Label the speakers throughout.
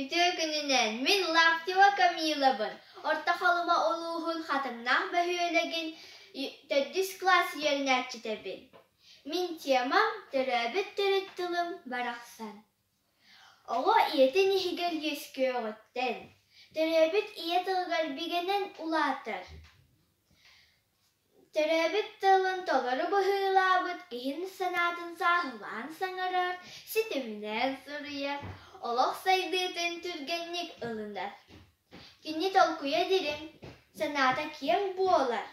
Speaker 1: Үтүө күнүнэн мин Лаптева Камилабын Орто Халыма улууһун Хатыҥнаах бөһүөлэгин төрдүс кылаас үөрэнээччитэбин. Мин темам төрөөбүт төрүт тылым барахсан. Оҕо ийэтин иһигэр үөскүөҕүттэн, төрөөбүт ийэ тылыгар бигэнэн улаатар. Төрөөбүт тылын толору быһыылаабыт иһин санаатын сааһылаан саҥарар, ситиминэн суруйар, олох сайдыытын түргэнник ылынар. Кини толкуйа дириҥ, санаата киэҥ буолар.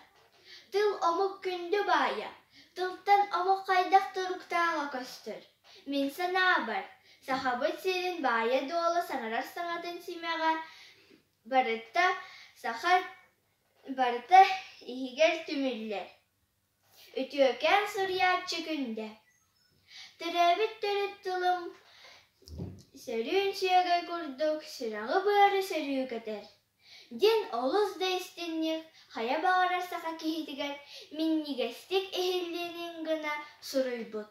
Speaker 1: Тыл омук күндү баайа, тылтан омук хайдах туруктааҕа көстөр. Мин санаабар, Сахабыт сирин баайа-дуола саҥарар саҥатын симэҕэ барыта саха Барыта иһигэр түмүллэр, үтүөкээн суруйааччы күндэ, төрөөбүт төрүт тылым сөрүүн сүөгэй курдук сүрэҕи-быары сөрүү көтөр, диэн олус да истиҥник, хайа баҕарар саха киһитигэр минньигэстик иһиллиэнин гына суруйбут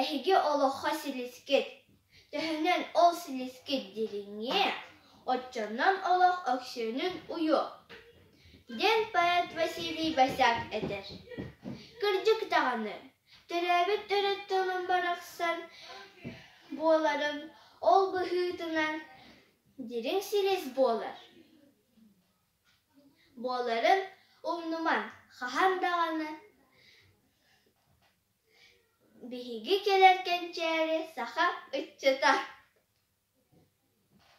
Speaker 1: Эһиги олоххо силискит. Төһөнөн ол силискит дириҥҥиэ, оччонон олох өксүөнүн уйуо, диэн поэт Василий Босяк этэр. Кырдьык даҕаны, төрөөбүт төрүт барахсан буоларын ол быһыытынан дириҥ силис буолар. Буоларын умнуман хаһан даҕаны Биһиги кэлэр кэнчээри саха ыччата